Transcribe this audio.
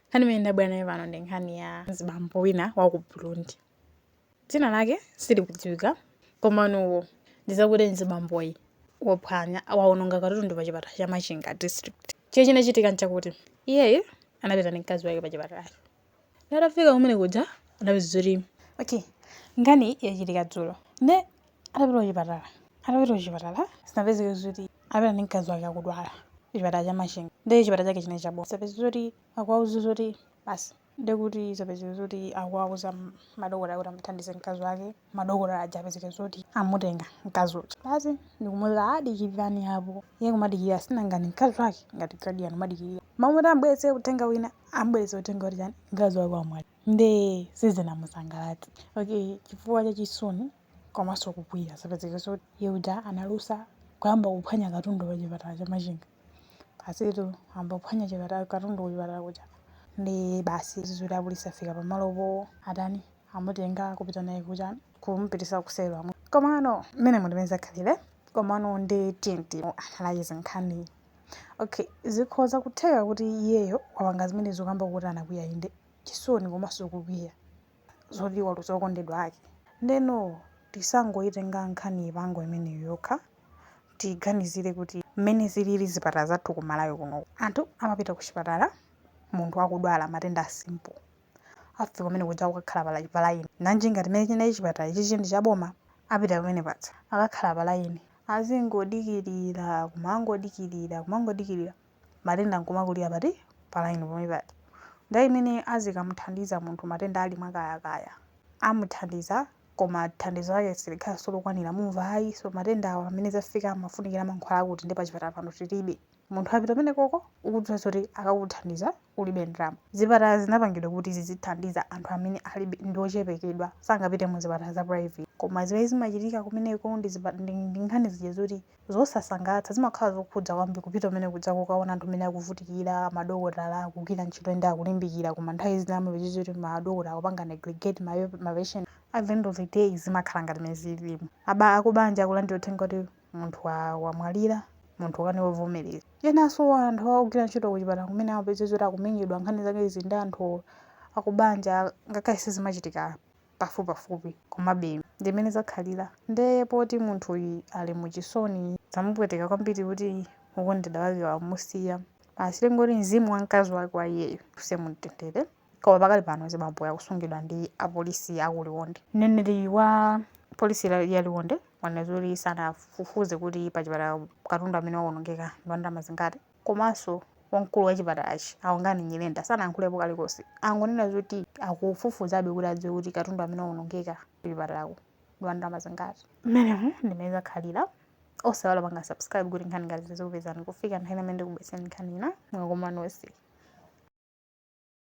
Nkhani imene ndabwera nayo pano ndi nkhani ya mzibambo wina wa ku Burundi. Dzina lake silikudziwika, komano ndi zakuti mzibamboyi waphwanya wawononga katundu pa chipatala cha Machinga District. Chimene chinachitika n'chakuti iyeyu anapita ndi mkazi wake pa chipatalacho. Atafika kumene kuja anapeza zoti okay, nkhaniyi yachitika dzulo. Nde atapita kuchipatala atapita kuchipatala zinapezeka zoti anapita ndi mkazi wake akudwala kuchipatala cha machinga nde chipatala chake chinali chaboma zapezeka zoti akuwauza zoti basi nde kuti zapezeka zoti akuwauza madokotala kuti amuthandize mkazi wake madokotala aja apezeka zoti amutenga mkazi uja basi ndikumuuza adikirani apo iye kumadikirira sinangani mkazi wake ngati guardian kumadikirira mamuti ambweretse uthenga wina ambweretse uthenga woti chani mkazi wake wamwalira nde sizinamusangalatse okay chifukwa cha chisoni komanso kukwiya zapezeka zoti iye uja analusa kuyamba kuphwanya katundu pa chipatala cha machinga basitu ayamba kuphwanya chipatala katundu ku chipatala kuja ndi basi zizoti apolisi afika pamalopo atani amutenga kupita naye kuchani kumupitisa kuselo amu komano mmene mu ndi mmene zakhalira komano ndi tnt analayiza nkhani okay zikhoza kutheka kuti iyeyo wapanga zimenezo kamba kuti anakwiya inde chisoni komanso kukwiya zoti waluza okondedwa ake ndeno tisangoitenga nkhaniyi pa angle imeneyo yokha tiganizire kuti mmene zilili zipatala zathu ku malawi kuno anthu amapita ku chipatala munthu akudwala matenda a simple afika kumene kuja kukakhala pala- palaini nanji ngati mmene chinali chipatala ichi chinali cha boma apita pamene paja akakhala palaini azingodikirira kumangodikirira kumangodikirira matenda nkumakulira pati, pa line pomwe paja. Nthawi imene azikamuthandiza munthu matenda ali mwakayakaya, amuthandiza koma thandizo lake silikhalanso lokwanira, mumva ayi so matenda awa pamene zafika amafunikira mankhwala akuti nde pachipatala pano tilibe. Munthu wapita kumeneko ukudziwa zoti akakuthandiza ulibe ndalama. Zipatala zinapangidwa kuti zizithandiza anthu amene alibe, ndi ochepekedwa, sangapite mu zipatala za private. Koma zimene zimachitika kumeneko ndi ndi nkhani zija zoti zosasangalatsa zimakhala zokhudza kwambiri kupita kumene kuja kukaona anthu mmene akuvutikira madokotala akugwira ntchito ende akulimbikira koma nthawi zina amapeza kuti madokotala akupanga negligate ma ma patient at the end of the day zimakhala ngati mmene zililimu aba akubanja akulandira uthenga kuti munthu wa- wamwalira munthu ukanika kuvomereza enanso anthu akugwira ntchito kuchipatala kumene amapeza kuti akumenyedwa nkhani zake izi ndi anthu akubanja ngakhale sizimachitika pafupipafupi komabe ndi mmene zakhalira nde poti munthuyi ali mu chisoni zamupweteka kwambiri kuti wokondedwa wake wamusiya basi tingoti mzimu wa mkazi wake wa iyeyo uuse mumtendere koma pakali pano mzibamboyo akusungidwa ndi apolisi aku liwonde mneneri wa polisi la- ya liwonde wanena zoti sanafufuze kuti pa chipatala katundu amene wawonongeka ndi wandalama zingati komanso wamkulu wa chipatalachi a Kungani Nyirenda sanayankhulepo kalikonse. Angonena zoti akufufuzabe kuti adziwe kuti katundu amene waonongeka kuchipatalaku ndi wa ndalama zingati. Mmenemu ndi mmene zakhalira. Osaiwala kupanga subscribe kuti nkhani ngati izi zizikupezani kufikira nthawi ina imene ndikubweretsereni nkhani ina. Mwaswera nonse.